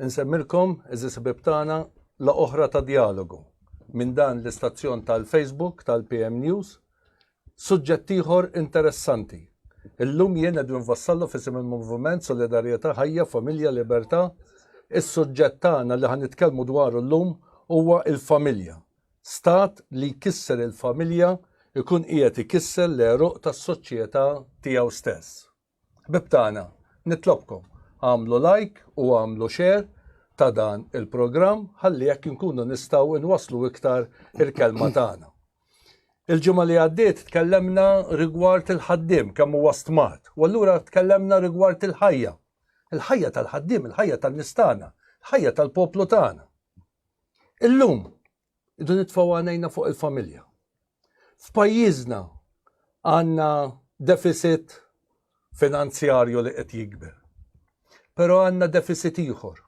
Insemmilkom, eżis ħbib tagħna, la oħra ta' dialogu minn dan l-istazzjon tal-Facebook tal-PM News Suġġett ieħor interessanti. Illum jien qed nfassallu f'isem il-Moviment Solidarjetà Ħajja, Familja, Libertà. Is-suġġett tagħna li ħa nitkellmu dwaru llum huwa l-familja. Stat li jkisser il-familja jkun qiegħed ikisser l-għeruq tas-soċjetà tiegħu stess. Ħbib tagħna, nitlobkom għamlu like u għamlu share ta' dan il-programm ħalli jekk inkunu nistgħu inwasslu iktar il-kelma tagħna. Il-ġimgħa li għaddiet tkellemna rigward il-ħaddiem kemm huwa stmat, u allura tkellemna rigward il-ħajja. Il-ħajja tal-ħaddiem, il-ħajja tan-nistana, il-ħajja tal-poplu tagħna. Illum Idu nitfgħu għanejna fuq il-familja. F'pajjiżna għandna deficit finanzjarju li qed jikber. Però għandna deficit ieħor.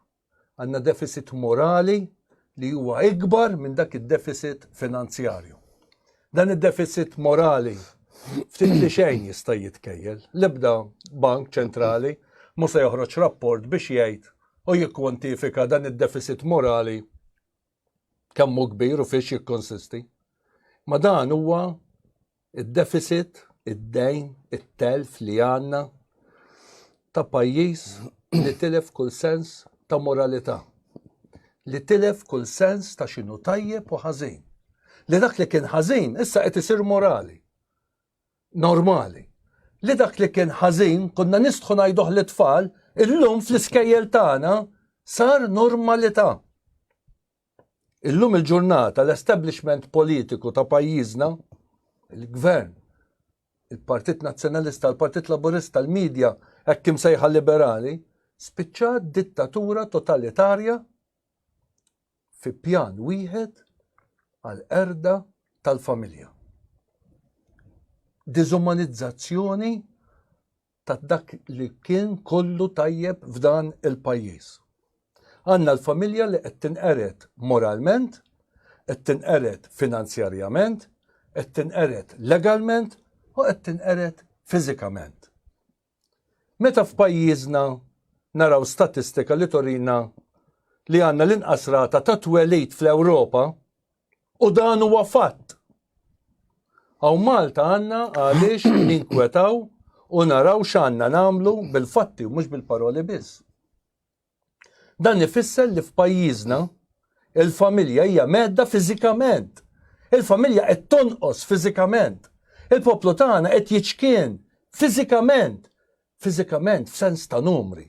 Għandna deficit morali li huwa ikbar minn dak id-deficit finanzjarju. Dan id-deficit morali ftit li xejn jista' jitkejjel. L-ebda bank ċentrali mhux se joħroġ rapport biex jgħid u jikkwantifika dan id-deficit morali kemm hu kbir u fiex jikkonsisti. Ma dan huwa id-deficit, id-dejn, it-telf li għandna ta' pajjiż li tilef kull sens ta' moralità, li tilef kull sens ta' xinu tajjeb u ħażin. Li dak li kien ħażin issa qed isir morali. normali. Li dak li kien ħażin konna nistħu ngħiduh li tfal illum fl-iskejjel tagħna sar normalità. Illum il-ġurnata l-establishment politiku ta' pajjiżna, il-gvern, il-Partit Nazzjonalista, il-Partit Laburista, il-medja, hekk kim sejħa liberali, spiċċat dittatura totalitarja fi pjan wieħed għall-qerda tal-familja. Diżumanizzazzjoni ta' dak li kien kollu tajjeb f'dan il-pajjiż. Għanna l-familja li qed tinqered moralment, qed tinqered finanzjarjament, qed tinqered legalment u qed tinqered fiżikament. Meta f'pajjiżna naraw statistika li turina li għandna l-inqas rata ta' twelid fl-Ewropa, u dan huwa fatt, hawn Malta għandna għaliex ninkwetaw u naraw x'għandna nagħmlu bil-fatti u mhux bil-paroli biss. Dan ifisser li f'pajjiżna il-familja hija mhedda fiżikament. Il-familja qed tonqos fiżikament. Il-poplu tagħna qed jiċkien fiżikament, fiżikament f'sens ta' numri.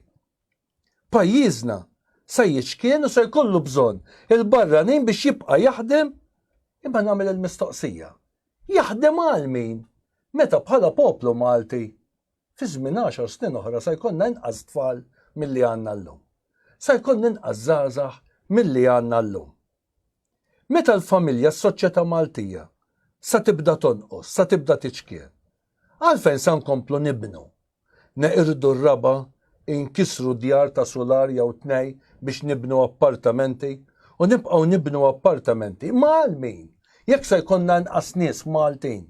Pajjiżna se jiċkien u se jkollu bżonn il-barranin biex jibqa' jaħdem imma nagħmel il-mistoqsija, jaħdem għal min meta bħala poplu Malti Fi żmien għaxar snin oħra se jkollna inqas tfal milli għandna llum. Se jkollna inqas żgħażagħ milli għandna llum. Meta l-familja, s-soċjetà Maltija, se tibda tonqos, se tibda tiċkien. Għalfejn se nkomplu nibnu? Neqirdu r-raba', inkisru djar ta' sular jew tnej biex nibnu appartamenti u nibqgħu nibnu appartamenti. Imma għal min? Jekk se jkollna inqas nies Maltin.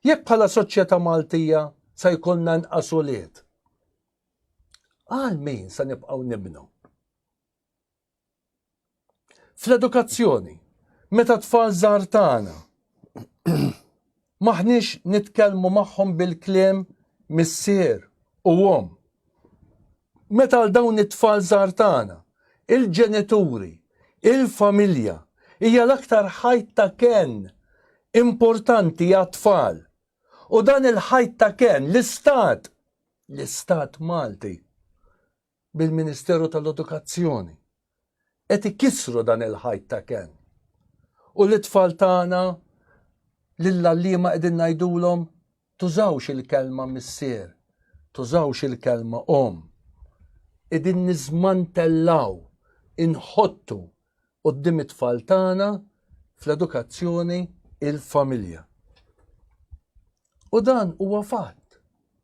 Jekk bħala soċjetà Maltija sa jkollna nqas ulied, għal min sa nibqgħu nibnu? Fl-edukazzjoni, meta tfal żgħar tagħna maħniex nitkellmu magħhom bil-kliem missier u om. Meta għal dawn it-tfal żgħar tagħna, il-ġenituri, il-familja hija l-aktar ħajt ta' kenn importanti għat-tfal. U dan il-ħajt ta' kenn, l-Istat, l-Istat Malti, bil-Ministeru tal-Edukazzjoni, qed ikissru dan il-ħajt ta' kenn. U lit-tfal tagħna lill-għalliema qegħdin ngħidulhom tużawx il-kelma missier, tużawx il-kelma omm. Qegħdin niżmantellaw, inħottu qudiem it-tfal tagħna fl-edukazzjoni il-familja. U dan huwa fatt.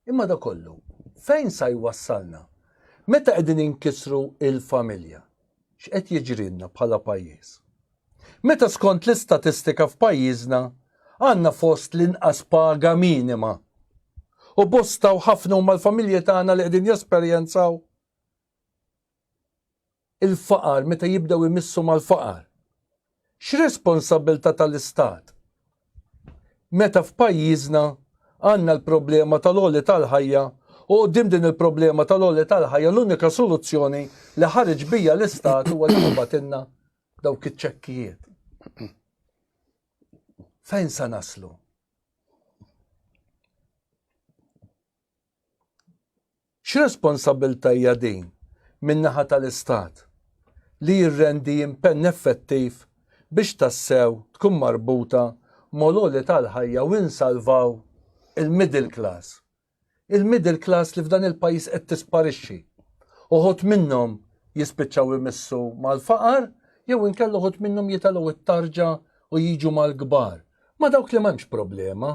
Imma da kollu, fejn sa jwassalna? Meta qegħdin inkisru il-familja, x'qed jiġrilna bħala pajjiż? Meta skont l-istatistika f'pajjiżna għandna fost l-inqas paga minima u bosta u ħafna huma l-familji tagħna li qegħdin jesperjenzaw il-faqar meta jibdew imissu mal-faqar. X'responsabbiltà tal-Istat? Meta f'pajjiżna għandna l-problema tal-għoli tal-ħajja u quddiem din il-problema tal-għoli tal-ħajja l-unika soluzzjoni li ħareġ bija l-Istat huwa li jibgħatilna dawk iċ-ċekkijiet. Fejn se naslu? X'responsabbiltà hija din min-naħa tal-Istat li jirrendi impenn effettiv biex tassew tkun marbuta mal-għoli tal-ħajja u insalvaw il-middle class? Il-middle class li f'dan il-pajjiż qed tisparixxi. Uħud minnhom jispiċċaw imissu mal-faqar jew inkella uħud minnhom jitelgħu t-tarġa u jiġu mal-kbar, ma' dawk li m'hemmx problema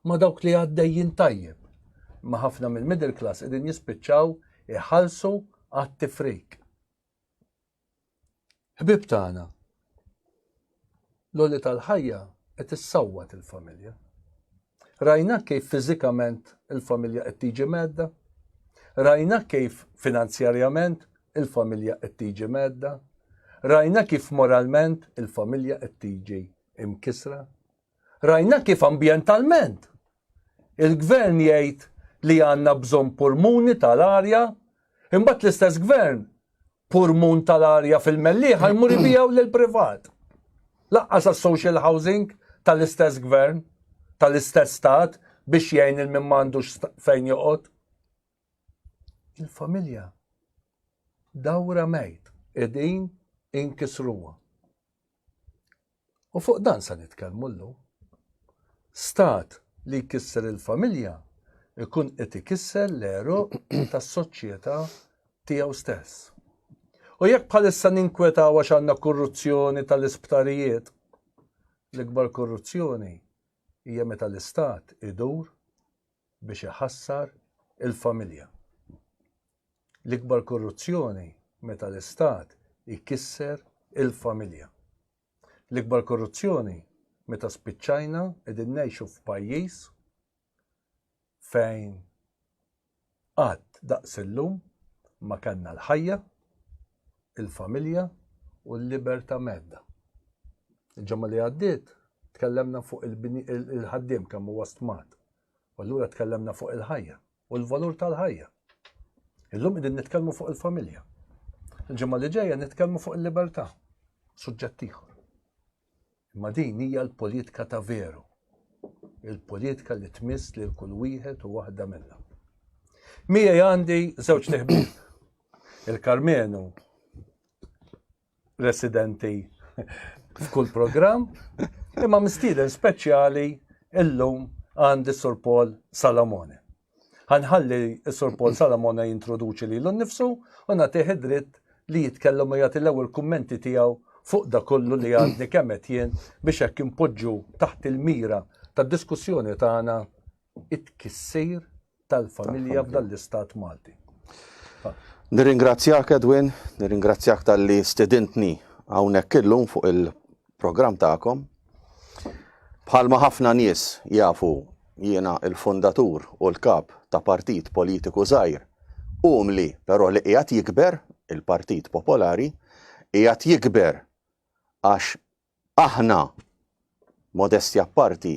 ma' dawk li għaddejjin tajjeb, imma ħafna mill-middle class qegħdin jispiċċaw iħallsu għat-tifrik. Ħbieb tagħna, l-għoli tal-ħajja qed issawwat il-familja. Rajna kif fiżikament il-familja qed tiġi medda, rajna kif finanzjarjament il-familja qed tiġi medda, rajna kif moralment il-familja qed tiġi imkisra. Rajna kif ambjentalment il-Gvern jgħid li għandna bżonn pulmuni tal-arja, imbagħad l-istess Gvern pulmun tal-arja fil-Mellieħa jmur ibiegħu lil privat. Laqqas għas-social housing tal-istess Gvern, tal-istess stat biex jgħin il min m'għandux fejn joqgħod. Il-familja dawra mejt, edin inkisruwa. U fuq dan se nitkellmu llum. Stat li jkisser il-familja ikun qed ikisser l-għeruq tas-soċjetà tiegħu stess. U jekk bħalissa ninkwetaw għax għandna korruzzjoni tal-isptarijiet, l-ikbar korruzzjoni hija meta l-istat idur biex iħassar il-familja. L-ikbar korruzzjoni meta l-Istat ikisser il-familja. L-ikbar korruzzjoni meta spiċċajna qegħdin ngħixu f'pajjiż fejn qatt daqs illum ma kellna l-ħajja il-familja u l-libertà medda. Il-ġemma li għaddiet tkellemna fuq il-ħaddiem kemm huwa stmat. U allura tkellemna fuq il-ħajja u l-valur tal-ħajja. Illum qegħdin nitkellmu fuq il-familja. Il-ġemma li ġejja nitkellmu fuq il-libertà. Suġġett ieħor. Imma din hija l-politika ta' veru, il-politika li tmiss lil kull wieħed u waħda minna. Miegħi għandi żewġ teħbib. Il-Karmenu residenti f'kull programm, imma mistieden speċjali illum għandi Sur Paul Salamone. Ħanħalli s-Sur Paul Salamona jintroduċi lilu nnifsu u nagħtih id-dritt li jitkellem u jagħti l-ewwel kummenti tiegħu fuq da kollu li għadni kemm qed jien biex hekk inpoġġu taħt il-mira tad-diskussjoni tagħna it-tkissir tal-familja f'dan l-istat Malti. Nirringrazzjak Edwin, nirringrazzjak tal-li stedintni hawnhekk illum fuq il- programm tagħkom. Bħalma ħafna nies jafu jiena l-fundatur u l-kap ta' partit politiku żgħir umli però li qiegħed jikber, il-Partit Popolari, qiegħed jikber għax aħna modestja parti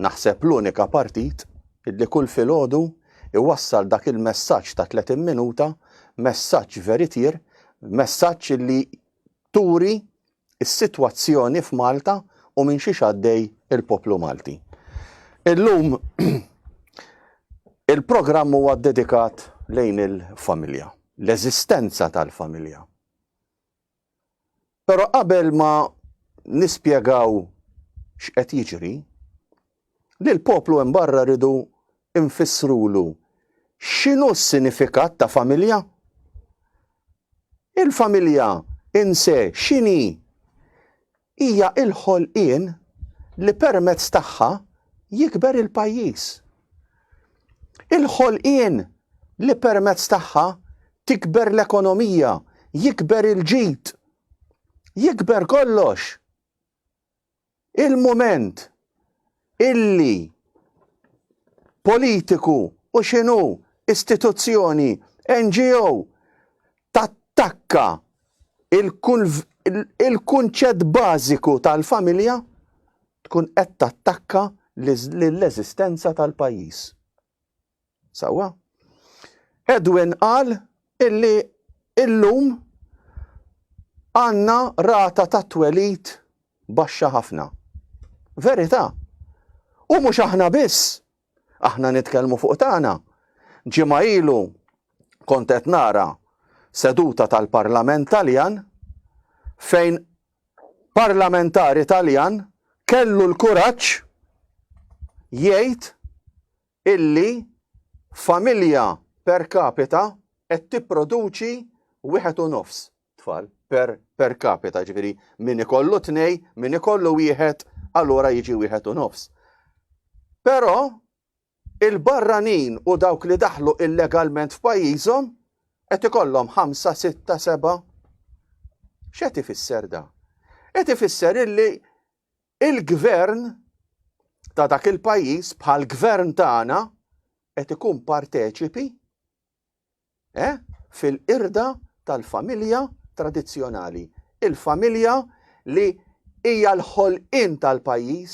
naħseb l-unika partit li kull filgħodu iwassal dak il-messaġġ ta' 30 minuta, messaġġ veritier, messaġġ li turi is-sitwazzjoni f'Malta u minn xiex għaddej il-poplu Malti. Illum il-programm huwa ddedikat lejn il-familja, l-eżistenza tal-familja. Però qabel ma nispjegaw x'qed jiġri, li l-poplu hemm barra rridu nfissrulu x'inhu s-sinifikat ta' familja? Il-familja in se x'inhi? Hija l-ħolqien li permezz tagħha jikber il-pajjiż. Il-ħolqien li permezz tagħha tikber l-ekonomija, jikber il-ġid, jikber kollox. il-mument illi politiku u x'inhu istituzzjoni NGO tattakka il-kunċett bażiku tal-familja tkun qed tattakka lill-eżistenza tal-pajjiż. Sewwa. Edwin qal illi illum għandna rata ta' twelid baxxa ħafna. Verità. U mhux aħna biss. Aħna nitkellmu fuq tagħna. Ġimgħa ilu kont qed nara seduta tal-Parlament Taljan fejn parlamentari Taljan kellu l-kuraġġ jgħid illi familja per capita qed tipproduċi wieħed u nofs tfal per, per capita, ġifiri min ikollu tnej, min ikollu wieħed, allura jiġi wieħed u nofs. Però il-barranin u dawk li daħlu illegalment f'pajjiżhom qed ikollhom 5, 6, 7. X'qed ifisser da? Qed ifisser illi Il-gvern ta' dak il-pajjiż bħall-gvern tagħna qed ikun parteċipi eh, fil-qirda tal-familja tradizzjonali. Il-familja li hija l-ħolqien tal-pajjiż,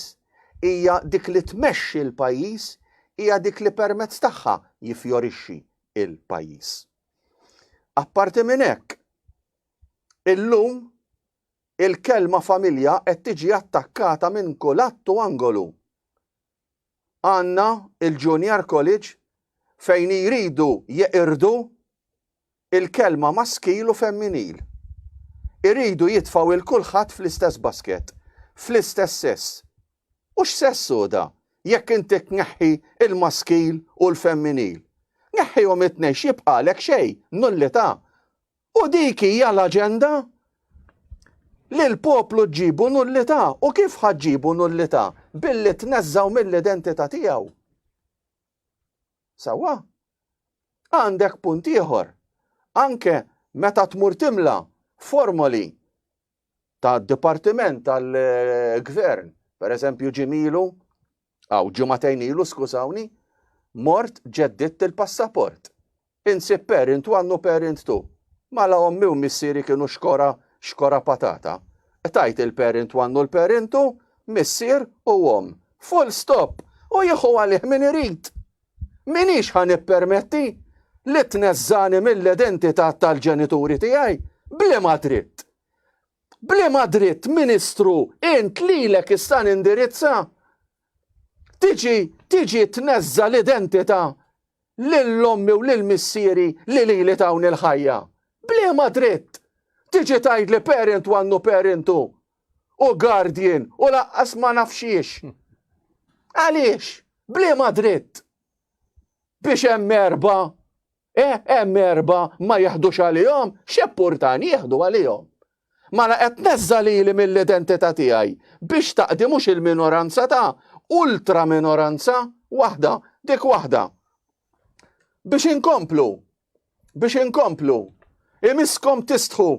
hija dik li tmexxi l-pajjiż, hija dik li permezz tagħha jiffjorixxi l-pajjiż. Apparti minn hekk, illum Il-kelma familja qed tiġi attakkata minn kulhatt u angolu. Għandna il-Junior College fejn jridu jeqirdu il-kelma maskil u femminil. Iridu jitfgħu 'l kulħadd fl-istess basket, fl-istess sess. U x'sess hu da jekk inti tneħħi l-maskil u l-femminil? Neħħihom it-tnejn x'jibqagħlek xejn, nullità. U dik hija l-aġenda? Lil poplu ġġibu nullità u kif ħa ġġibu nullità? Billi tneżżgħu mill-identità tiegħu. Sewwa? Għandek punt ieħor. Anke meta tmur timla formoli ta' dipartiment tal-gvern, per eżempju ġimilu, għaw ġimatejn ilu, skużawni, mort ġedditt il-passaport. Insib parent one u parent two. Mala ommi u missieri kienu xkora, xkora patata. Tajt il-parent one u l-parent two, missier u om. Full stop! U jieħu għalih min irid! M'iniex ħa nippermetti li tneżżagħni mill-identità tal-ġenituri tiegħi. B'liema dritt? B'liema dritt, Ministru, int lilek issa nindirizza? Tiġi, tiġi tneżża l-identità lil ommi u lil missieri li lili tawni l-ħajja. B'liema dritt? Tiġi tgħidli parent one u parent two. u guardian u laqqas ma naf xiex. Għaliex? Bliema dritt? Biex hemm erba, eh, hemm erba ma jihdux għalihom, xeppurtan jihdu għalihom. Mala qed neżża lili mill-identità tiegħi biex taqdi mhux il-minoranza ta' ultra minoranza waħda, dik waħda. Biex inkomplu, biex inkomplu. Imiskom tistħu.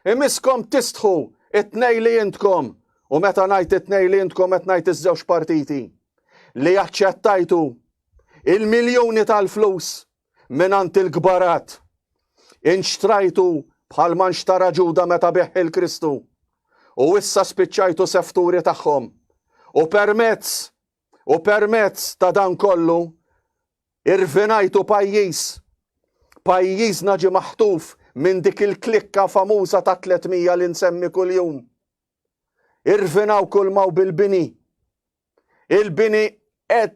Imiskom tistħu it-tnej li intkom. U meta ngħid it-tnej li intkom qed ngħid iż-żewġ partiti li jaċċettajtu il-miljuni tal-flus minant il-kbarat. Inxtrajtu bħal man xtara ġuda meta beħ il-Kristu. U issa spiċċajtu sefturi tagħhom. U permezz U permezz ta' dan kollu irvinajtu pajjiż. Pajjiżna ġi maħtuf minn dik il-klikka famuża ta' 300 li nsemmi kuljum. Irvinaw kull maw bil-bini. Il-bini qed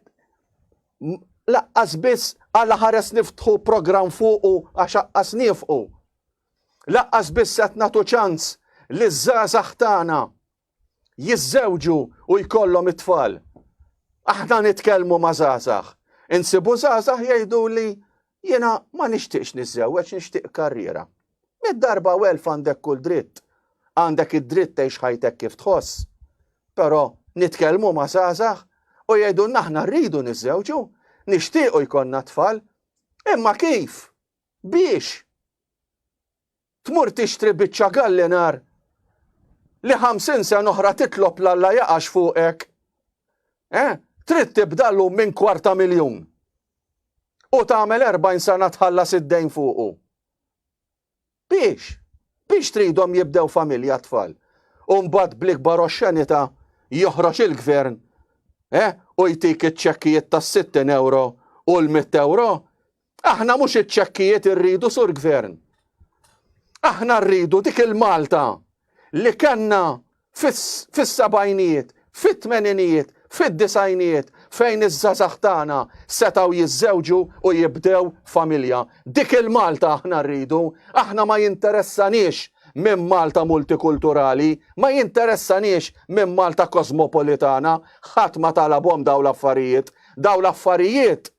laqqas biss għala ħares niftħu programm fuqu għax aqqas nifqu. Laqqas biss qed nagħtu ċans li żgħażagħ tagħna jiżżewġu u jkollhom it-tfal. Aħna nitkellmu ma' żgħażagħ. Insibu żgħażagħ jgħiduli jiena ma nixtieqx niżżewweġ nixtieq karriera. Mid-darba u elf għandek kull dritt. Għandek id-dritt tgħix ħajtek kif tħoss. Però nitkellmu ma' żgħażagħ u jgħidu naħna rridu niżżewġu, nixtiequ jkollna tfal, imma kif? Biex? Tmur tixtri biċċa gallinar li ħamsin sena oħra titlob l Alla jaqax fuqek. Eh, trid tibda llum minn kwarta miljun. U tagħmel 40 sena tħallas id-dejn fuqu. Biex, biex tridhom jibdew familja tfal. U mbagħad bl-ikbar oxxenita joħroġ il-gvern eh, u jtik iċ-ċekkijiet tas-60 euro u l-100 euro Aħna mhux iċ-ċekkijiet irridu sur gvern. Aħna rridu dik il-Malta li kellna fis-sebgħinijiet, fit-tmeninijiet, fid-disajnijiet fejn iż-żazax tagħna setgħu jiżżewġu u jibdew familja. Dik il-Malta aħna rridu, aħna ma jinteressanix minn Malta multikulturali, ma jinteressanix minn Malta kosmopolitana, ħadd ma talabhom daw l-affarijiet. Daw l-affarijiet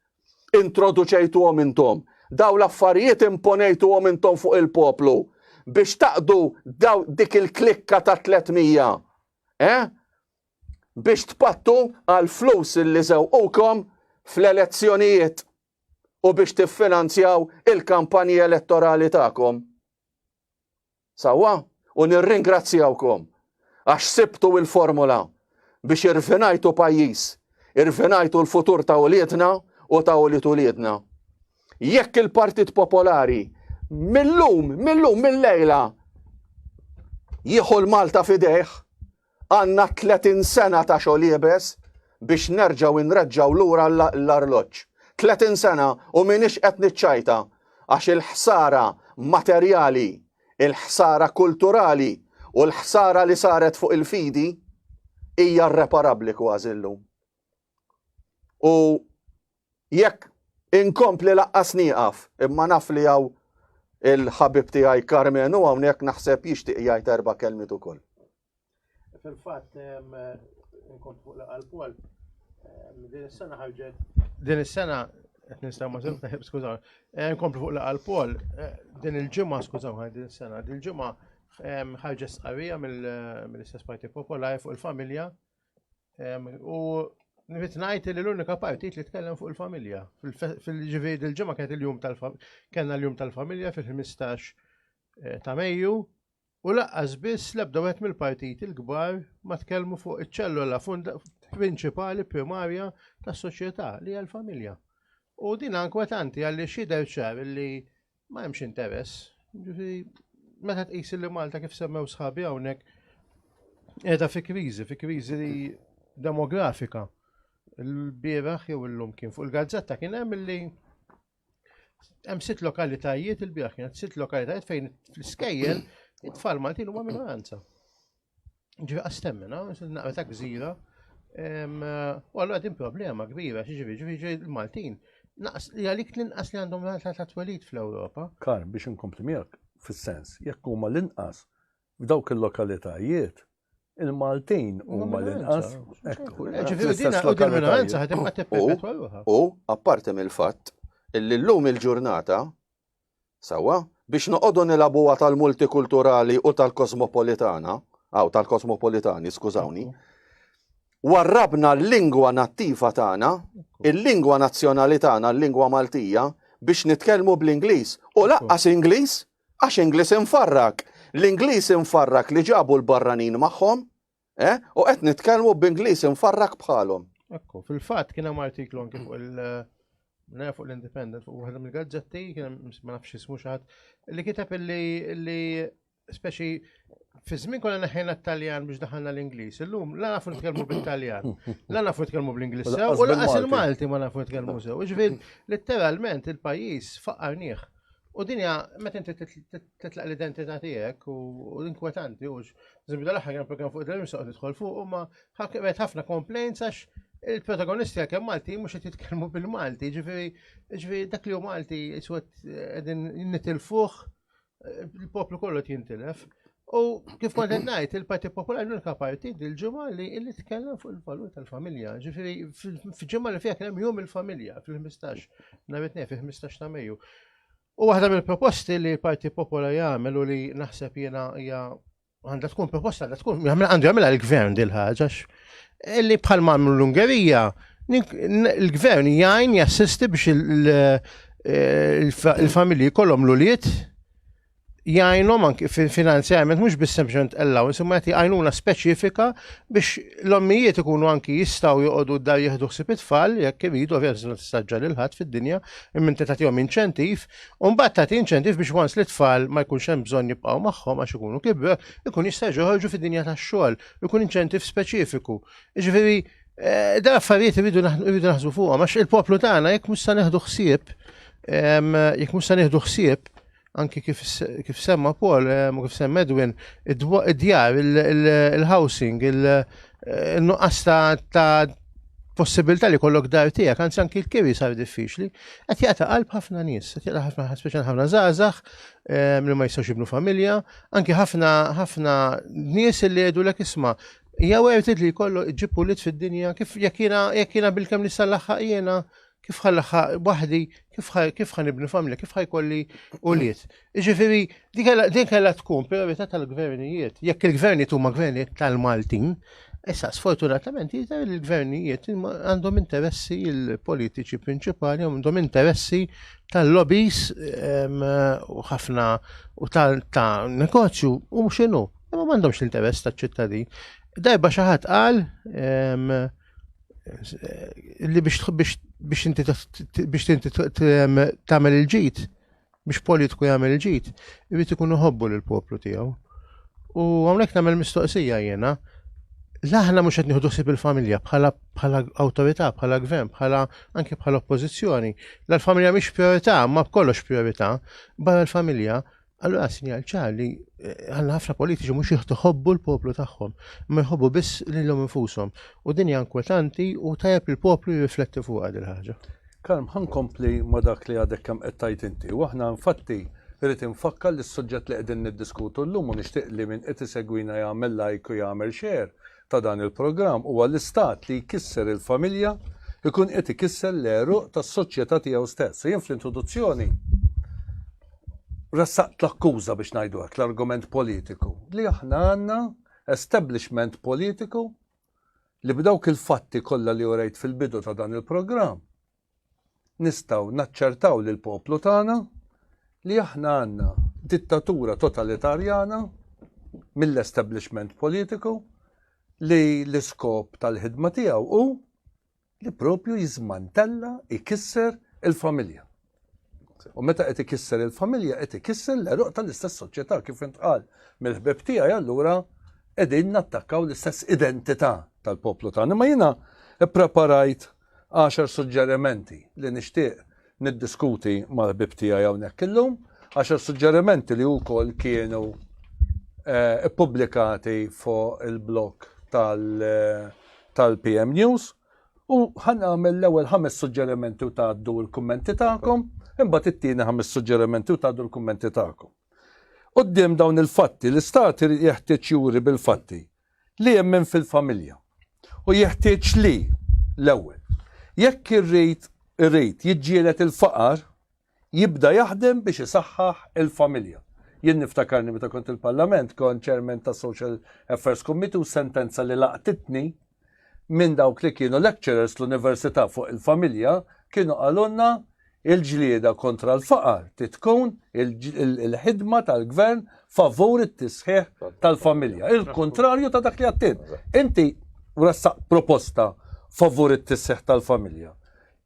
introduċejtuhom intom, dawn l-affarijiet imponejtuhom intom fuq il-poplu biex taqdu daw dik il-klikka ta' tliet mija, eh? Biex tpattu għal flus li żewqukom fl-elezzjonijiet u biex tiffinanzjaw il-kampanji elettorali tagħkom. Sewwa, u nirringrazzjawkom għax sibtu il-formula biex irfinajtu pajjiż, irfinajtu l-futur ta' uliedna u ta' ulied uliedna. Jekk il-Partit Popolari millum, millum, millejla jieħu l-Malta f'idejh, Għandna tletin sena ta' xogħol iebes biex nerġgħu nreġġgħu lura l-arloġġ. Tletin sena u m'iniex qed niċċajta għax il-ħsara materjali, il-ħsara kulturali u l-ħsara li saret fuq il-fidi hija rreparabbli kważi llum. U jekk inkompli laqqas nieqaf, imma naf li hawn il-ħabib tiegħi Carmen u hawnhekk naħseb jixtieq jgħid erba' kelmiet ukoll. Fil-fatt, nkont fuq laqal Paul, din is-sena ħarġet. Din is-sena qed nistaw ma' żewġ taħib skużaw. Eh, nkomplu fuq laqal Paul, eh, din il-ġimgħa skużaw ħaj din is-sena, din il-ġimgħa ħarġet sqarrija mill-istess Parti Popolari fuq il-familja U nrid ngħid li l-unika partit li tkellem fuq il-familja. Fil-ġifieri il-ġimgħa kienet il-jum tal-familja, kellna l-jum tal-familja fil-15 eh, ta' Mejju u laqqas biss l-ebda wieħed mill-partit il-kbar ma tkellmu fuq iċ-ċellola prinċipali primarja tas-soċjetà li hija l-familja. U din ankwetanti għalli xider ċar li Ma hemmx interess. Ġifieri meta tqis li Malta kif semmew sħabi hawnhekk qiegħda fi kriżi, fi kriżi demografika. Il-bieraħ jew illum kien fuq il-gazzetta kien hemm li hemm sitt lokalitajiet il-bieraħ kienet sitt lokalitajiet fejn fl-iskejjel it-tfal Maltin huma minoranza. Ġivi għastemmina, naqra ta' gżira, u għallu għadin problema kbira, ġivi, ġivi, ġivi, il-Maltin, naqs li għalik l-inqas li għandhom rata ta' twelit fl-Ewropa. Kar, biex inkompli miegħek, fis-sens, jekk huma l-inqas f'dawk il-lokalitajiet, il-Maltin huma l-inqas. Ġivi, dina u din minoranza ħadim għat U, apparti mill-fatt, illi l-lum il-ġurnata, Sewwa, biex noqogħdu nilagħbuha tal-multikulturali u tal-kosmopolitana, aw tal-kosmopolitani, skużawni, warrabna l-lingwa nattiva tagħna, il-lingwa nazzjonali tagħna, l-lingwa Maltija, biex nitkellmu bl-Ingliż. U laqqas Ingliż, għax Ingliż infarrak. L-Ingliż infarrak li ġabu l-barranin magħhom, Eh? U qed nitkellmu b'Ingliż infarrak bħalhom. Ekku, fil-fatt kien hemm artiklu anke fuq il- eh, fuq l-Independent fuq waħda mill-gazzetti kien ma nafx ismu xi li kiteb li speċi fi żmien kollha neħħejna t-Taljan biex daħalna l-Ingliż. Illum la nafu nitkellmu bit-Taljan, la nafu nitkellmu bl-Ingliż sew u laqas il-Malti ma nafu nitkellmu sew. Ġifier letteralment il-pajjiż faqar nieħ. U dinja meta inti titlaq l-identità tiegħek u l-inkwetanti u Zimbi dal-aħħar kien programm fuq il-Dream soqgħod nidħol fuq imma qed ħafna complaints għax il-protagonisti għalkemm Malti mhux qed jitkellmu bil-Malti, ġifieri ġifieri dak li hu Malti iswed qegħdin nitilfuh il-poplu kollu qed jintilef. U kif kont qed ngħid, il-Partit Popolari l-unika parti dil-ġimgħa li li tkellem fuq il-valur tal-familja. Ġifieri fil-ġimgħa li fiha kien hemm jum il-familja fil-15 nhar it-tnejn fil-15 ta' Mejju. U waħda mill-proposti li l-Parti Popola jagħmel u li naħseb jiena hija għandha tkun proposta għandha tkun għandu jagħmilha l-gvern dil ħaġa li bħal mamlu l-Ungerija il-gvern jgħin jassisti biex il-familji kollhom l-ulied jgħinhom anki finanzjament mhux biss sempliċement allowance imma jagħti għajnuna speċifika biex l-ommijiet ikunu anki jistgħu joqogħdu dar jieħdu ħsieb it-tfal jekk iridu ovvjament tistaġġel il-ħadd fid-dinja Imma inti tagħtihom inċentiv, u mbagħad tagħti inċentiv biex once li tfal ma jkunx hemm bżonn jibqgħu magħhom għax ikunu kibru, ikun jista' joħorġu fid-dinja tax-xogħol, ikun inċentiv speċifiku. Jiġifieri, eh, da affarijiet iridu naħsbu fuqhom għax il-poplu tagħna jekk mhux se neħdu ħsieb, jekk mhux se nieħdu ħsieb, anki kif, kif semma Paul, eh, u kif semma Edwin, id-djar, il-housing, il-nuqqas eh, ta' possibilità li kollok dar tiegħek, anzi anki l-kiri sar diffiċli, qed jaqta' qalb ħafna nies, qed jaqta' ħafna speċjal ħafna żgħażagħ eh, li ma jistgħux jibnu familja, anki ħafna ħafna nies li jgħidu lek isma' jew għertit li kollu ġib ulit fid-dinja kif jekk jiena bil-kemm li sal-laħħaq jiena kif ħalħa waħdi, kif ħan ibni familja, kif ħajkolli uliet. Ġifiri, din kella tkun priorità tal-gvernijiet. Jekk il-gvernijiet huma gvernijiet tal-Maltin, issa sfortunatament jidher il-gvernijiet għandhom interessi il-politiċi prinċipali, għandhom interessi tal-lobbies u ħafna u ta' negozju u xinu, ma għandhomx l-interess tal-ċittadin. Dajba xaħat qal, li biex biex inti biex inti tagħmel il-ġid, biex politiku jagħmel il-ġid, irid ikun iħobbu lill poplu tiegħu. U hawnhekk nagħmel mistoqsija jiena, l-aħna mhux qed nieħdu sib il-familja bħala bħala awtorità, bħala gvern, bħala anke bħala oppożizzjoni. L-familja mhix priorità, ma b'kollox priorità, barra l-familja Allura sinjal ċar li eh, għanna ħafna politiċi mhux jħobbu l-poplu tagħhom, ma jħobbu biss lilhom infushom. U din hija inkwetanti u tajjeb li l-poplu jirrifletti fuq għad il-ħaġa. Kalm ħan kompli ma dak li għadek kemm qed tajt inti. U aħna infatti irrid infakkar li s-suġġett li qegħdin niddiskutu llum u nixtieq li minn qed isegwina jagħmel lajk u jagħmel xejn ta' dan il-programm huwa l-Istat li jkisser il-familja jkun qed ikisser l-għeruq tas-soċjetà tiegħu stess. U jien fl-introduzzjoni ressaqt l-akkuża biex ngħidu hekk, l-argument politiku, li aħna għandna establishment politiku li b'dawk il-fatti kollha li urejt fil-bidu ta' dan il-programm nistgħu naċċertaw lill-poplu tagħna li aħna għandna dittatura totalitarjana mill-establishment politiku li l-iskop tal-ħidma tiegħu hu li propju jiżmantella, ikisser il-familja. U meta qed ikisser il-familja qed ikisser l-eruq tal-istess soċjetà kif intqal mill-ħbib tiegħi allura qegħdin nattakkaw l-istess identità tal-poplu tagħna. Ma jiena ppreparajt għaxar suġġerimenti li nixtieq niddiskuti mal-ħbib tiegħi hawnhekk illum, għaxar suġġerimenti li wkoll kienu eh, ippubblikati fuq il-blog eh, tal-PM News. U ħan għamil l-ewwel ħames suġġerimenti u tgħaddu l-kummenti tagħkom, imbagħad it-tieni ħames suġġerimenti u tgħaddu l-kummenti tagħkom. Qudiem dawn il-fatti, l-istat jeħtieġ juri bil-fatti li jemmen fil-familja u jeħtieġ li, l-ewwel, jekk irid irid jiġġieled il-faqar, jibda jaħdem biex isaħħaħ il-familja. Jien niftakarni meta kont il-Parlament kont chairman ta' Social Affairs Committee u sentenza li laqtitni minn dawk li kienu lecturers l-Università fuq il-familja kienu qalulna Il-ġlieda kontra l-faqar titkun il-ħidma tal-gvern favur it-tisħiħ tal-familja. Il-kontrarju ta' dak li għattin. Inti ressaq proposta favur it-tisseħ tal-familja.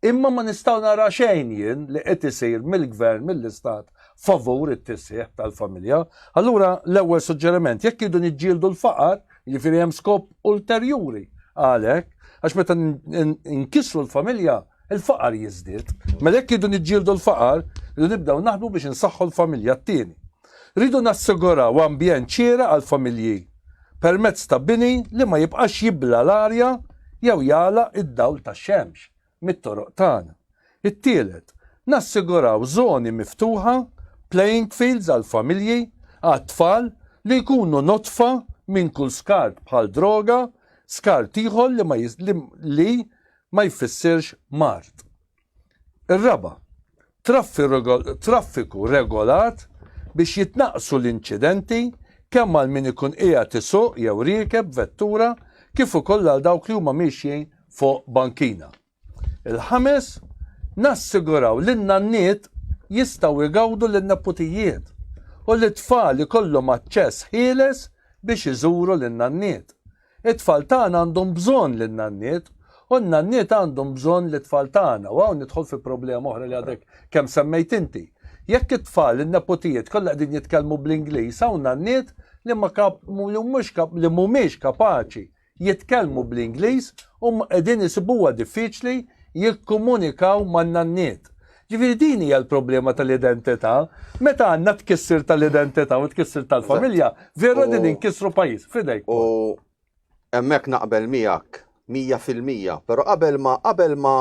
Imma ma nistaw nara xejn jien li qed isir mill-gvern mill-istat favur it-tisseħ tal-familja. Allura l-ewwel suġġeriment jekk idu niġġieldu l-faqar, jiġifieri hemm skop ulterjuri għalhekk għax meta nkissru l-familja il-faqar jiżdied. Mela jekk irridu niġġieldu l-faqar, irridu nibdew naħdmu biex insaħħu l-familja. T-tieni, rridu nassiguraw ambjent xieraq għall-familji permezz ta' bini li ma jibqax jibla l-arja jew jagħlaq id-dawl tax-xemx mit-toroq tagħna. It-tielet, nassiguraw żoni miftuħa, playing fields għall-familji, għat-tfal li jkunu nodfa minn kull skart bħal droga, skart ieħor li ma jfissirx mard. Ir-raba', traffiku regolat biex jitnaqqsu l-inċidenti kemm għal min ikun qiegħed isuq jew riekeb vettura kif ukoll għal dawk li huma miexjin fuq bankina. Il-ħames, nassiguraw li n-nanniet jistgħu jgawdu lin-neputijiet u li t-tfal ikollhom aċċess ħieles biex iżuru lin-nanniet. It-tfal tagħna għandhom bżonn lin-nanniet, u n-nanniet għandhom bżonn lit-tfal tagħna, u hawn nidħol fi problema oħra li għadek kemm semmejt inti. Jekk it-tfal, in-neputijiet, kollha qegħdin jitkellmu bl-Ingliż, hawn nanniet li ma kap, li mhux kap, li mhumiex kapaċi jitkellmu bl-Ingliż u qegħdin isibuha diffiċli jikkumunikaw man-nanniet. Ġifieri din hija l-problema tal-identità. Meta għandna tkissir tal-identità u tkissir tal-familja, vera din inkissru pajjiż, fidejk. U hemmhekk naqbel miegħek 100%, però qabel ma qabel ma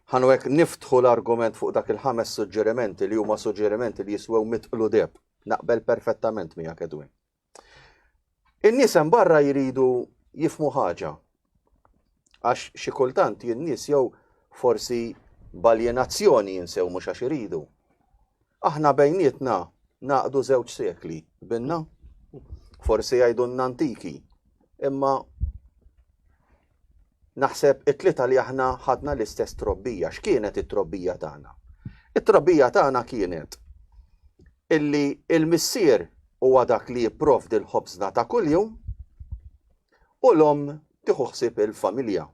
ħanu hekk niftħu l-argument fuq dak il-ħames suġġerimenti li huma suġġerimenti li jiswew mitqlu deb. Naqbel perfettament miegħek Edwin. In-nies hemm barra jridu jifhmu ħaġa. Għax xi kultant jien nies jew forsi b'aljenazzjoni jinsew mhux għax iridu. Aħna bejnietna naqdu żewġ sekli, binna? Forsi jgħidulna antiki, imma Naħseb it-tlieta li aħna ħadna l-istess trobbija. X'kienet it-trobbija tagħna? It-trobbija tagħna kienet illi l-Missier huwa dak li jipprovdi l-ħobżna ta' kuljum u l-omm tieħu ħsieb il-familja.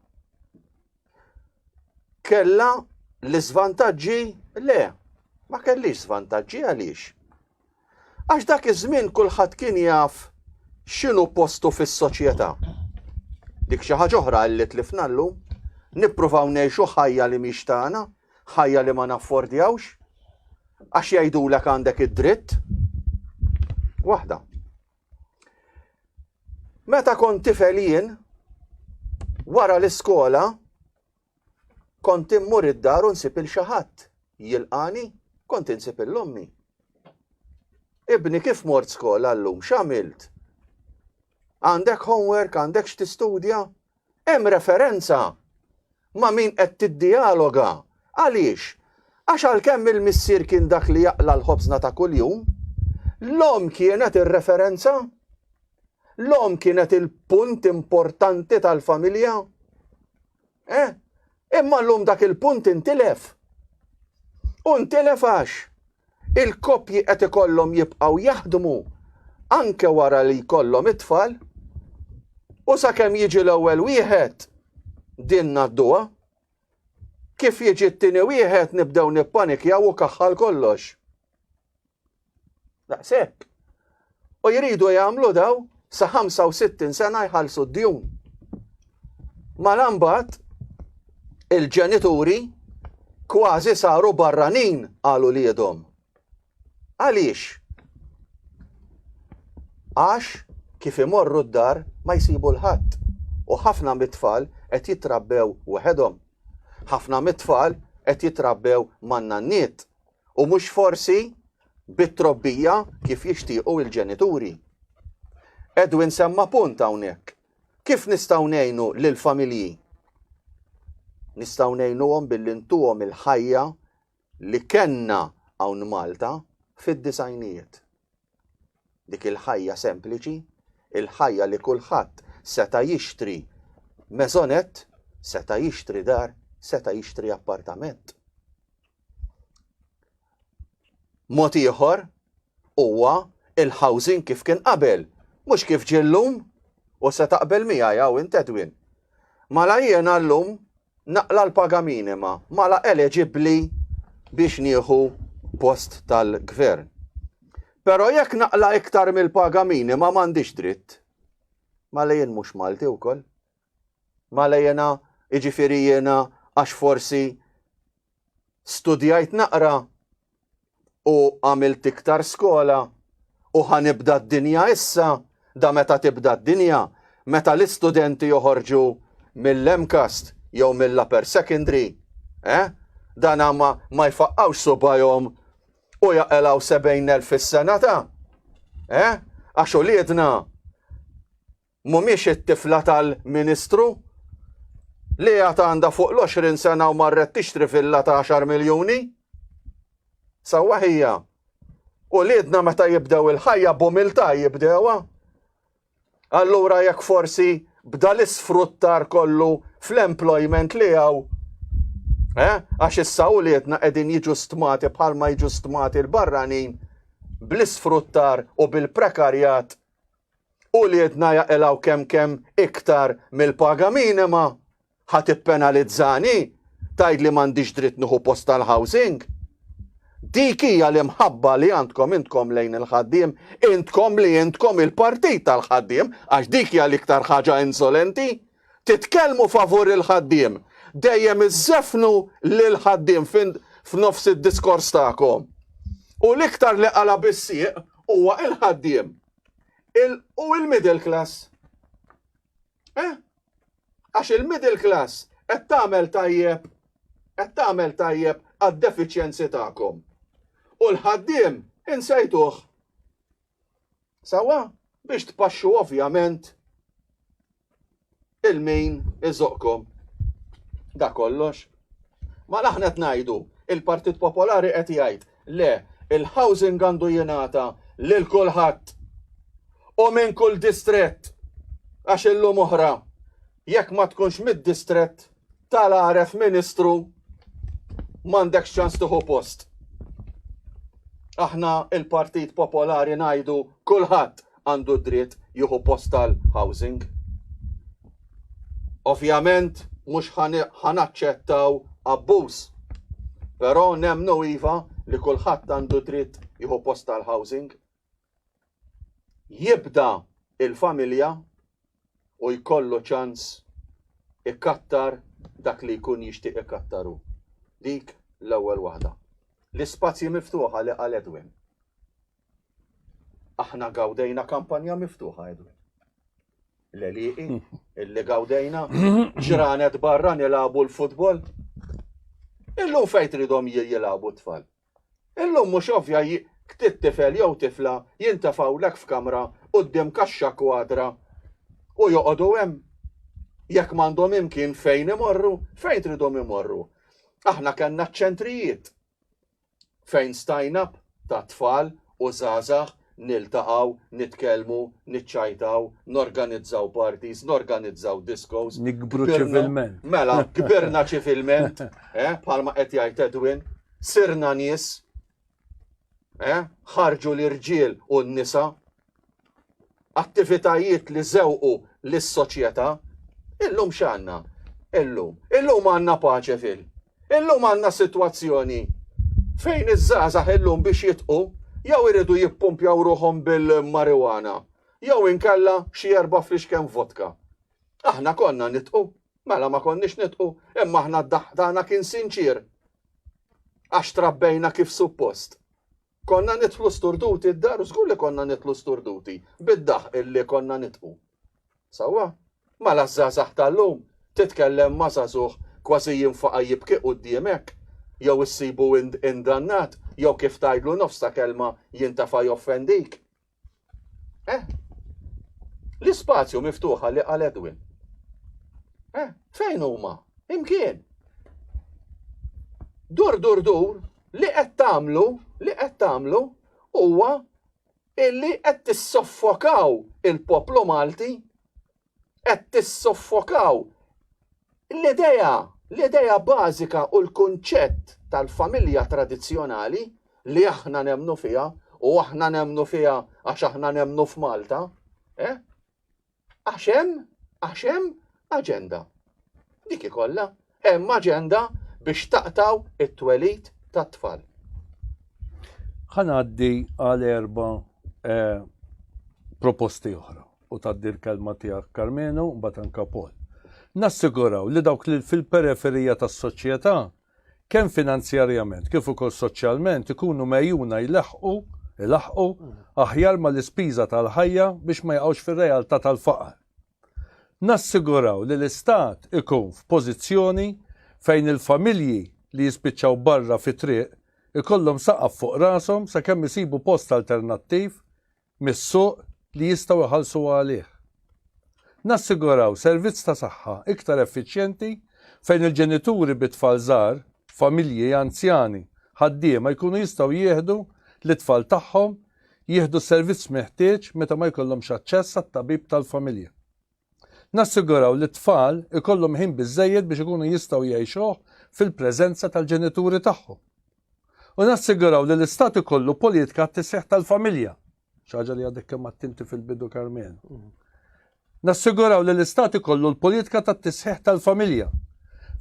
Kellha l-iżvantaġġi? Le, ma kellix żvantaġġi għaliex? Għax dak iż-żmien kulħadd kien jaf x'inhu postu fis-soċjetà. Dik xi ħaġa oħra li tlifna llum, nippruvaw ngħixu ħajja li mhix tagħna, ħajja li ma naffordjawx, għax jgħidulek għandek id-dritt. Waħda. Meta kont tifel jien, wara l-iskola, Kont immur id-dar u nsib il xi ħadd jilqagħni, kont insib il ommi. Ibni kif mort skola llum, x'għamilt? Għandek homework, għandek x'tistudja? Hemm referenza ma' min qed tiddialoga. Għaliex? Għax għalkemm il-missier kien dak li jaqla l-ħobżna ta' kuljum, l-om kienet ir-referenza, l-om kienet il-punt importanti tal-familja. Eh? Imma llum dak il-punt intilef. U ntilef għax il-koppji qed ikollhom jibqgħu jaħdmu anke wara li jkollhom it-tfal u sakemm jiġi l-ewwel wieħed din nadduha kif jiġi t-tieni wieħed nibdew nippanikjaw u kaħħal kollox. Daqshekk. U jridu jagħmlu daw sa 65 sena jħallsu d-djun. Malambat il-ġenituri kważi saru barranin għalu li jedhom. Għaliex? Għax kif imorru d-dar ma jsibu l-ħadd u ħafna mit-tfal qed jitrabbew waħedhom. Ħafna mit-tfal qed jitrabbew man-nanniet u mhux forsi bit-trobbija kif jixtiequ il-ġenituri. Edwin semma punt hawnhekk. Kif nistgħu ngħinu lil familji? Nistgħu ngħinuhom billi ntuhom il-ħajja li kenna hawn Malta fid-disajnijiet. Dik il-ħajja sempliċi, il-ħajja li kulħadd seta' jixtri meżonett, seta' jixtri dar, seta' jixtri appartament. Mod ieħor huwa il-housing kif kien qabel, mhux kif ġie llum u se taqbel miegħi hawn intedwin. Mala jiena llum Naqla' l-paga minima mala eleġibbli biex nieħu post tal-gvern. Però jekk naqla' iktar mill-paga minima m'għandix dritt. Mala jien mhux Malti wkoll? Mala jiena jiġifieri jiena għax forsi studjajt naqra u għamilt iktar skola u ħanibda d-dinja issa da meta tibda d-dinja meta l-istudenti joħorġu mill-MCAST jew mill-upper secondary, eh? Dan ma, ma jfaqqawx subajhom u jaqelaw 70,000 fis-sena ta' eh? Għax uliedna Mhumiex it-tifla tal-Ministru? Li għad għandha fuq l-20 sena u marret tixtri villa ta' 10 miljuni? Sewwa ħija. U liedna meta jibdew il-ħajja b'umiltà jibdewha. Allura jekk forsi bda l-isfruttar kollu fl-employment li għaw, eh? għax issa u liedna qegħdin jiġu stmati bħalma jiġu stmati l-barranin bl-isfruttar u bil-prekarjat Uliedna jaqilgħu kemm kemm iktar mill-paga minima? Ħa tippenalizzani? Tgħidli m'għandix dritt nieħu post tal-housing? Dik hija l-imħabba li għandkom intkom lejn il-ħaddiem, intkom li intkom il-partit tal-ħaddiem, għax dik hija l-iktar ħaġa insolenti. Titkellmu favur il-ħaddiem, dejjem iżżefnu lill-ħaddiem f'nofs id-diskors tagħkom. U l-iktar li qala' bis-sieq huwa l-ħaddiem. il u il-middle class. Eh? Għax il-middle class qed tagħmel tajjeb qed tagħmel tajjeb għad-defiċjenzi tagħkom. U l-ħaddiem insejtuh. Sawa biex tpaxxu ovvjament il-min iżoqqkom. Da kollox. Ma aħna qed ngħidu, il-Partit Popolari qed jgħid, le, il-housing għandu jingħata lil kulħadd u minn kull distrett għax illum oħra jekk ma tkunx mid-distrett tal-għaref ministru m'għandekx ċans tieħu post. Aħna il-Partit Popolari ngħidu kulħadd għandu d-dritt jieħu post tal-housing. Ovvjament mhux ħa naċċettaw abbuż, però nemmnu iva li kulħadd għandu dritt jieħu post tal-housing. Jibda il-familja u jkollu ċans ikattar dak li jkun jixtieq ikattar hu. Dik l-ewwel waħda. L-ispazji miftuħa li qal Edwin. Aħna gawdejna kampanja miftuħa, Edu. L-eliqi, illi gawdejna, ġranet barra nilabu l-futbol. Illum fejt ridom jilabu t-tfal. Illum mux ovvja ktit tifel jew tifla jintafaw lek f'kamra u d-dim kaxxa kwadra u joqodu hemm jekk m'għandhom imkien fejn imorru, fejn tridhom imorru. Aħna kellna ċ-ċentrijiet. fejn stajna ta' tfal u żgħażagħ niltaqgħu, nitkellmu, niċċajtaw, norganizzaw parties, norganizzaw diskos. Nikbru ċivilment. Mela, kbirna ċivilment, eh, bħalma qed jgħid Edwin, sirna nies, eh, ħarġu l-irġiel u n-nisa, attivitajiet li żewqu lis-soċjetà. Illum x'għandna? Illum. Illum għandna paċe fil. Illum għandna sitwazzjoni fejn iż-żgħażagħ illum biex jitqu jew iridu jippumpjaw ruħhom bil-marijuana jew inkella xi erba' fliexken vodka. Aħna konna nitqu? Mela ma konniex nitqu, imma aħna d-daħq tagħna kien sinċier għax trabbejna kif suppost. Konna nidħlu sturduti d-dar u żgur li konna nidħlu sturduti bid-daħq illi konna nidħu. Sewwa? Mela ż-żgħażagħ tal-lum, titkellem ma' żagħżugħ kważi jinfaqa' jibki quddiemek, jew issibu indannat, jew kif tgħidlu nofs ta' kelma jintefa' joffendik. Eh? L-ispazju miftuħa li għal Edwin. Eh? Fejn huma? Imkien. Dur dur dur li qed tagħmlu, li qed tagħmlu huwa illi qed tissoffokaw il-poplu Malti qed tissoffokaw l-idea, l-idea bażika u l-kunċett tal-familja tradizzjonali li aħna nemmnu fiha u aħna nemmnu fiha għax aħna nemmnu f'Malta, eh? Għax hemm, għax hemm aġenda. Dik ikollha Hemm aġenda biex taqtgħu t-twelid tat-tfal. Ħa ngħaddi għal erba' proposti oħra u tgħaddi l-kelma tiegħek Karmenu, mbagħad anke Paul. Nassiguraw li dawk li fil-periferija tas-soċjetà, kemm finanzjarjament kif ukoll soċjalment ikunu megħjuna jlaħħqu, ilaħħqu, aħjar mal-ispiża tal-ħajja biex ma jaqgħux fir-realtà tal-faqar. Nassiguraw li l-Istat ikun f'pożizzjoni fejn il-familji li jispiċċaw barra fit-triq ikollhom saqaf fuq rashom sakemm isibu post alternattiv mis-suq li jistgħu jħallsu għalih. Nassiguraw servizz ta' saħħa iktar effiċjenti fejn il-ġenituri bi tfal żgħar, familji anzjani, ħaddiema jkunu jistgħu jieħdu lit-tfal tagħhom jieħdu s-servizz meħtieġ meta ma jkollhomx aċċess għat-tabib tal-familja. Nassiguraw li t-tfal ikollhom ħin biżżejjed biex ikunu jistgħu jgħixuh fil-preżenza tal-ġenituri tagħhom. U nassiguraw li l-Istat ikollu politika t-tisseħ tal-familja, xaġa li għadek kemm attinti fil-bidu Karmen. Mhm. Nassiguraw li l-Istat ikollu l-politika tat-tisħiħ tal-familja,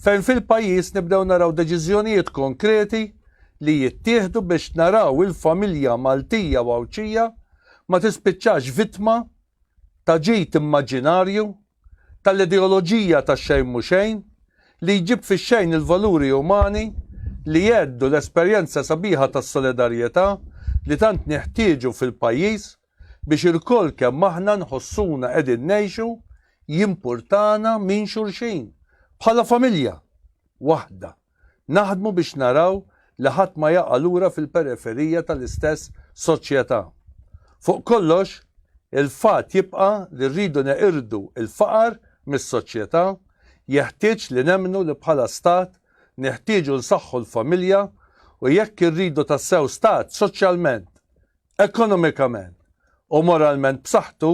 fejn fil-pajjiż nibdew naraw deċiżjonijiet konkreti li jittieħdu biex naraw il-familja Maltija u Għawdxija ma tispiċċax vittma ta' ġid immaġinarju tal-ideoloġija ta' xejn mhu xejn li jġib fix-xejn il-valuri umani li jgħeddu l-esperjenza sabiħa tas-solidarjetà li tant neħtieġu fil-pajjiż biex ilkoll kemm aħna nħossuna qegħdin ngħixu jimpurtana minn xulxin, bħala familja waħda naħdmu biex naraw li ħadd ma jaqa' lura fil-periferija tal-istess soċjetà. Fuq kollox, il-fatt jibqa' li rridu neqirdu l-faqar mis-soċjetà jeħtieġ li nemmnu li bħala Stat neħtieġu nsaħħu l-familja u jekk irridu tassew Stat soċjalment Ekonomikament u moralment b'saħħtu,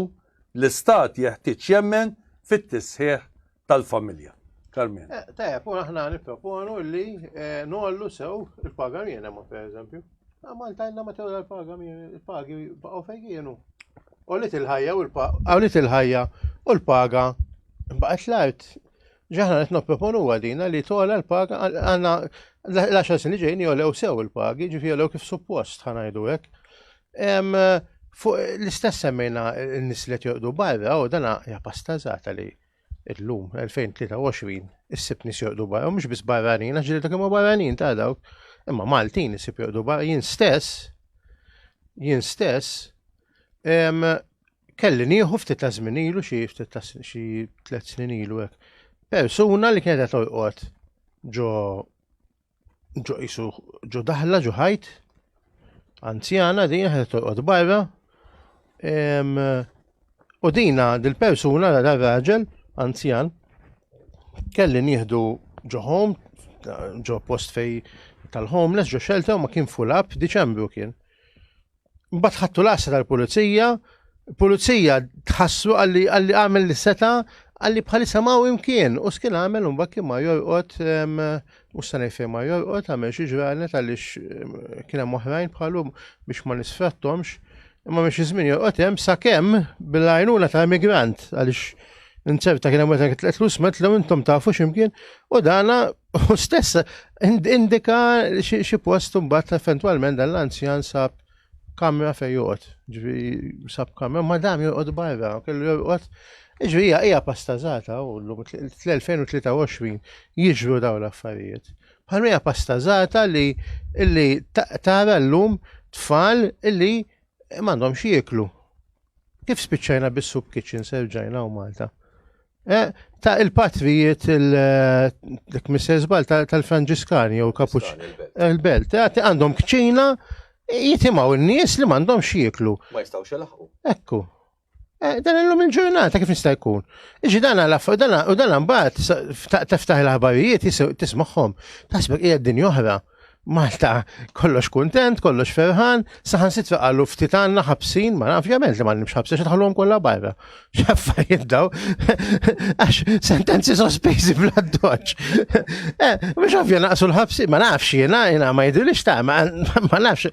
l-Istat jeħtieġ jemmen fit-tisħiħ tal-familja. Carmien. Eh, tajab, u aħna nipproponu li eh, nollu sew il-paga minima, per eżempju. Ah, Malta jenna ma tewla l-paga il-pagi baqgħu fejn kienu. Għolit il-ħajja u l-paga. Għolit il-ħajja u l-paga baqgħet l-art. Ġaħna qed nopproponu huwa dina li tola l-paga għandna l-10 snin li ġejni jolew sew il-pagi, ġifi jolew kif suppost ħanajdu hekk. Fuq l-istess semmejna n-nis li jorqdu barra u dana hija pastazata li illum 2023 issib nis jorqdu barra u mhux biss barranin għax ġilda kemm barranin ta' dawk. Imma Maltin issib jorqdu barra jien stess jien stess Kelli nieħu ftit ta' żmien ilu xi ftit ta' xi tliet snin ilu hekk. Persuna li kienet qed torqod ġo ġo isu ġo daħla ġo ħajt anzjana din qed torqod barra. U dina dil-persuna ra raġel anzjan kelli nieħdu ġo home ġo post fej tal-homeless ġo shelter ma kien full up Diċembru kien. Mbagħad ħattu l-għassa tal-pulizija, pulizija tħassu għalli għalli għamel li seta għalli bħalissa ma' imkien u skin għamel un bakki ma' jorqot u s-sanaj fej ma' jorqot għamel xie ġranet għalli kina moħrajn bħalum biex ma' nisfrattomx imma biex jizmin jorqot jem sa' kem bil-għajnuna ta' emigrant għalix nċerta kien hemm meta tlus met l intom tafu x'imkien u dana U stess indika xi post mbagħad eventwalment dan l-anzjan sab kamra fejn joqgħod. Ġifi sab kamra ma dam joqgħod barra, kellu joqgħod. Ġifi hija hija pastażata u llum l-2023 jiġru dawn l-affarijiet. Bħalma hija pastażata li illi tara llum tfal illi m'għandhomx jieklu. Kif spiċċajna bis-soup kitchen serġajna u Malta? Eh, ta' il-patrijiet il-Mrs. Eh, Bal tal-Franġiskani jew Kapuċ il-Belt, eh, għandhom kċina jitimaw il-nies li mandom xieklu. Ma jistaw xelaħu. Ekku. Dan illum il-ġurnata kif nista' jkun. Iġi dan għalaf, u dan mbagħad teftaħ l-aħbarijiet tismaħħom. Tasbek hija din oħra. Malta kollox kuntent, kollox ferħan, saħan sitra għallu ftit għanna ħabsin, ma ovvjament li ma nimx ħabsin, xa tħallum kollha barra. Xaffa jiddaw, għax sentenzi sospiżi bla doċ. Mux eh, ovvja naqsu l-ħabsin, ma nafx jena, jena ma jidilix ta' ma nafx.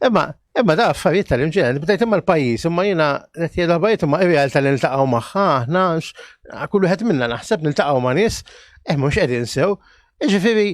Imma, imma da' affarijiet tal-imġen, bdejt imma l-pajis, imma jena qed jgħid bajt imma irjal tal-iltaqgħu magħha, aħna kull wieħed minna naħseb niltaqgħu ma' nies, eh mhux qegħdin sew. Ġifieri,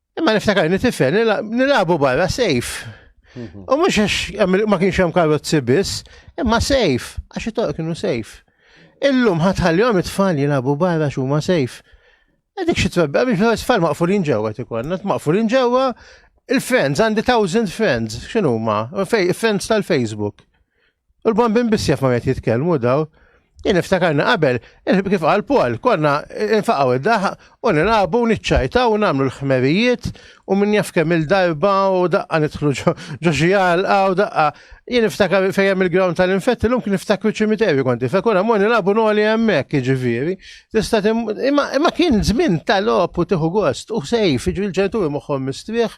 Imma niftakar li tifel nilagħbu barra sejf. Mhm. U mhux għax ma kienx hemm karozzi biss, imma sejf, għax it-toq kienu sejf. Illum ħatħallihom it-tfal jilagħbu barra x'huma sejf. Dik xi twebba biex tfal maqfulin ġewwa tikollna, maqfulin ġewwa il-friends, għandi thousand friends, x'inhuma? Friends tal-Facebook. U l-bombin biss jaf ma għet jitkelmu daw. Jien iftakarna qabel, kif għal Paul, konna infaqaw id-daħ u nilabu u niċċajta u namlu l-ħmerijiet u minn jaf kemm il-darba u daqqa nidħlu ġoġi għalqa u daqqa. Jien iftakar fejem il-ground tal-infetti l-lum kien iftakru ċimiterju konti, fekuna mor nilabu noli għemmek ġiviri. Tista imma kien zmin tal-op u tiħu gost u sejf, ġivil ġentu moħħom mistrieħ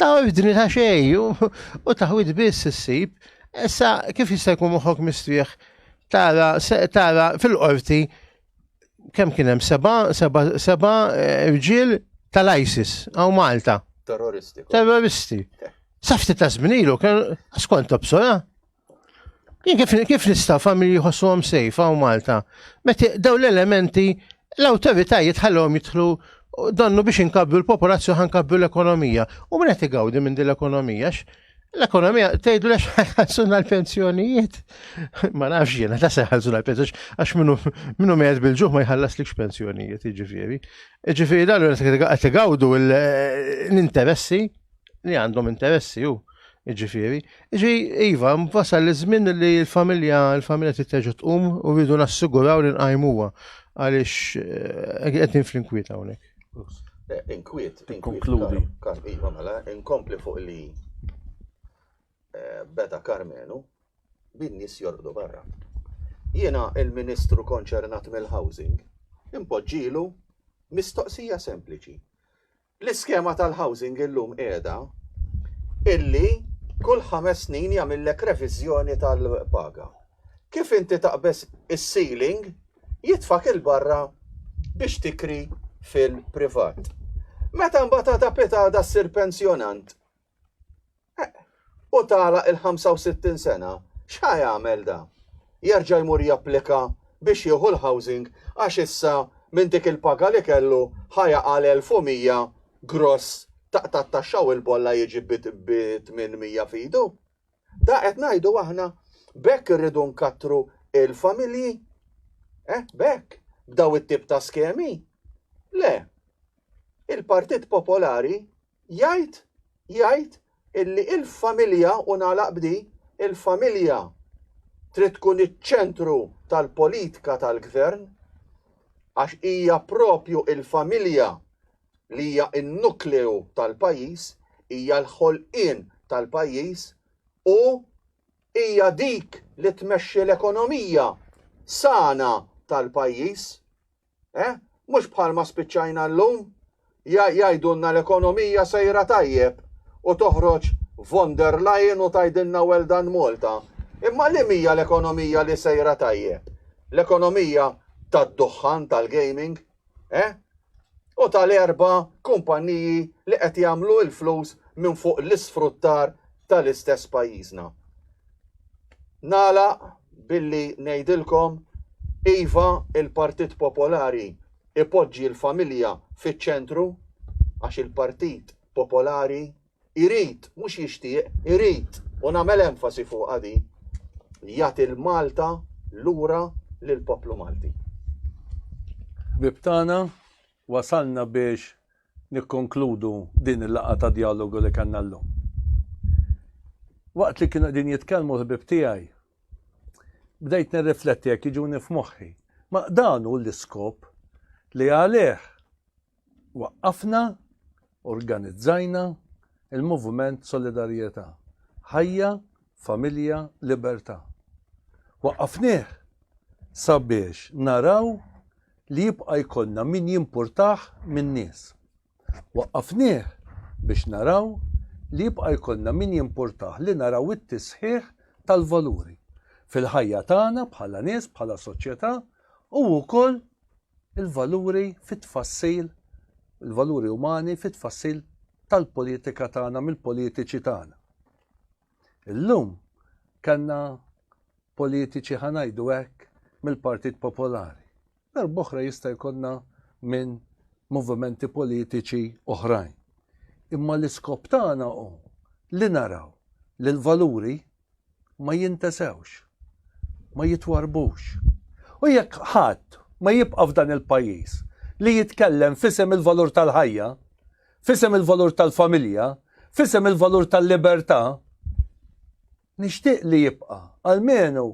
Taħwidni ta' xej u taħwid biss issib. Issa kif jista' jkun moħħok mistrieħ tara tara fil-qorti kemm kien hemm seba' seba' seba' eh, rġiel tal-ISIS għaw Malta. Terroristi. Terroristi. Safti ta' żminilu kien skont obsora. Kif, kif nista' familji jħossuhom sejf hawn Malta? Meta daw l-elementi l-awtoritajiet ħallhom jidħlu donnu biex inkabru l-popolazzjoni ħankabru l-ekonomija. U min qed igawdi minn din l-ekonomija? L-ekonomija tgħidu lex ħassuna l-pensjonijiet. Ma nafx jiena ta' se ħassuna l-pensjonijiet għax minnu minnu meħed bil-ġuħ ma jħallas likx pensjonijiet, jiġifieri. Jiġifieri dan qed igawdu l-interessi li għandhom interessi ju, ġifiri. Ġi, Iva, wasal li żmien li l-familja, l-familja titteġu tqum u rridu nassiguraw li nqajmuha għaliex eh, qed fl-inkwiet hawnhekk. Eh, inkwiet, inkonkludi. Iva, mela, inkompli fuq li eh, beda Karmenu bin nies jorbdu barra. Jiena il-Ministru konċernat mill-Housing impoġġilu mistoqsija sempliċi. L-iskema tal-housing illum qiegħda illi kull ħames snin jagħmillek reviżjoni tal-paga. Kif inti taqbeż is-ceiling jitfak 'il barra biex tikri fil-privat. Meta mbagħad għada pitada ssir pensjonant Eh, u tagħlaq il-65 sena, x'ħa jagħmel da? Jerġa' jmur japplika biex jieħu l-housing għax issa minn dik il-paga li kellu ħa jaqa' l-1100 gross tat-taxxa u l-bolla jiġi bi 800 f'idu? Da qed ngħidu aħna b'hekk irridu nkattru l-familji? Eh, b'hekk? B'daw it-tip ta' skemi? Le. Il-Partit Popolari Jgħid, jgħid illi il-familja, u nagħlaq b'di, il-familja trid tkun iċ-ċentru tal-politka tal-Gvern għax hija propju il-familja li hija n-nukleu tal-pajjiż, hija l-ħolqien tal-pajjiż u hija dik li tmexxi l-ekonomija sana tal-pajjiż. Eh? Mhux bħalma spiċċajna llum? Jgħidulna l-ekonomija sejra tajjeb u toħroġ von der Leyen u tgħidilna well done Malta. Imma liema hija l-ekonomija li sejra tajjeb? L-ekonomija tad-duħħan tal-gaming? Eh? U tal-erba' kumpanniji li qed jagħmlu l-flus minn fuq l-isfruttar tal-istess pajjiżna? Nagħlaq billi ngħidilkom iva il-Partit Popolari ipoġġi l-familja fiċ-ċentru għax il-Partit Popolari jrid, mhux jixtieq, irid, u nagħmel enfasi fuqha din, jagħti l-Malta lura lill-poplu Malti. Ħbieb tagħna, wasalna biex nikkonkludu din il-laqgħa ta' djalogu li kellna llum. Waqt li kienu qegħdin jitkellmu l-ħbieb tiegħi, bdejt nirrifletti jekk jiġuni f'moħħi. Ma dan hu l-iskop li għalih waqqafna, organizzajna il-Moviment Solidarjetà. Ħajja, familja, libertà. Waqqafnieh sabiex naraw li jibqa' jkollna min jimpurtah min-nies. Waqqafnieh biex naraw li jibqa' jkollna min jimpurtah li naraw it-tisħiħ tal-valuri fil-ħajja tagħna bħala nies, bħala soċjetà u wkoll il-valuri fit-tfassil, il-valuri umani fit-tfassil tal-politika tagħna mill-politiċi tagħna. Illum kellna politiċi ħa ngħidu hekk mill-Partit Popolari. Darb'oħra jista' jkollna minn movimenti politiċi oħrajn. Imma l-iskop tagħna hu li naraw li l-valuri ma jintesewx, ma jitwarbux. U jekk ħadd ma jibqa' f'dan il-pajjiż li jitkellem f'isem il-valur tal-ħajja, F'isem il-valur tal-familja, f'isem il-valur tal-libertà, nixtieq li jibqa' almenu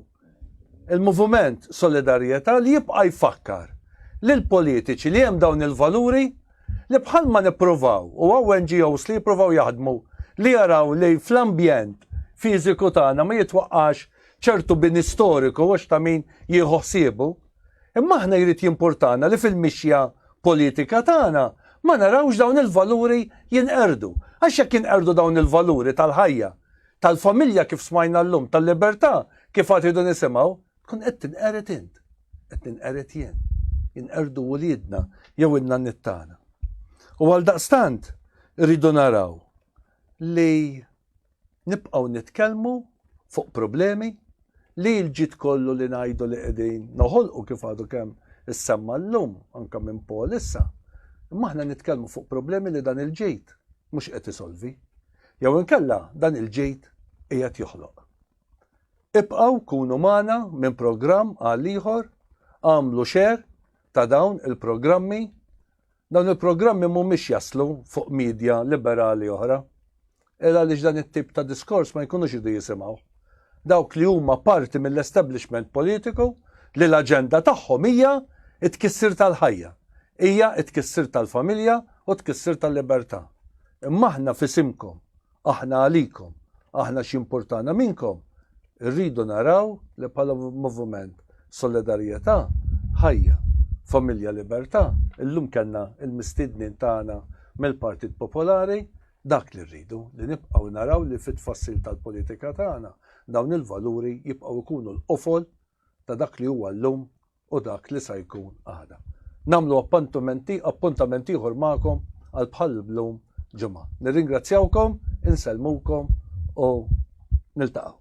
il-Moviment Solidarjetà li jibqa' jfakkar lill-politiċi li hemm dawn il-valuri li bħalma nippruvaw u hawn NGOs li jippruvaw jaħdmu li jaraw li fl-ambjent fiżiku tagħna ma jitwaqqax ċertu bini storiku għax ta' min jieħu ħsiebu. Imma aħna jrid jimpurtana li fil-mixja politika tagħna ma narawx dawn il-valuri jinqerdu. Għax jekk jinqerdu dawn il-valuri tal-ħajja, tal-familja kif smajna llum, tal-libertà kif għad idu nisimgħu, tkun qed tinqered int, qed tinqered jien, jinqerdu wliedna jew inna nittana. U għal daqstant rridu naraw li Nibqgħu nitkellmu fuq problemi li l-ġid kollu li ngħidu li qegħdin noħolqu kif għadu kemm issemma llum anke minn Paul issa, imma aħna nitkellmu fuq problemi li dan il-ġid mhux qed isolvi. Jew inkella dan il-ġid qiegħed joħloq. Ibqgħu kunu magħna minn programm għal ieħor, agħmlu share ta' dawn il-programmi Dawn il-programmi mhumiex jaslu fuq media liberali oħra, il għaliex dan it-tip ta' diskors ma jkunux idu jisimgħuh. Dawk li huma parti mill-establishment politiku li l-aġenda tagħhom hija t-tkissir tal-ħajja, hija t-tkissir tal-familja u t-tkissir tal-libertà. Imma aħna f'isimkom Aħna għalikom, aħna x'jimpurtana minnkom, irridu naraw li bħala Moviment Solidarjetà, Ħajja, Familja Libertà, illum kellna l-mistiednin tagħna mill-Partit Popolari, dak li rridu, li nibqgħu naraw li fit-tfassil tal-politika tagħna dawn il-valuri jibqgħu jkunu l-qofol ta' dak li huwa llum u dak li sa jkun għada. Nagħmlu appuntamenti, appuntament ieħor magħkom għal bħal blum ġimgħa. Nirringrazzjawkom, insellmukom u niltaqgħu.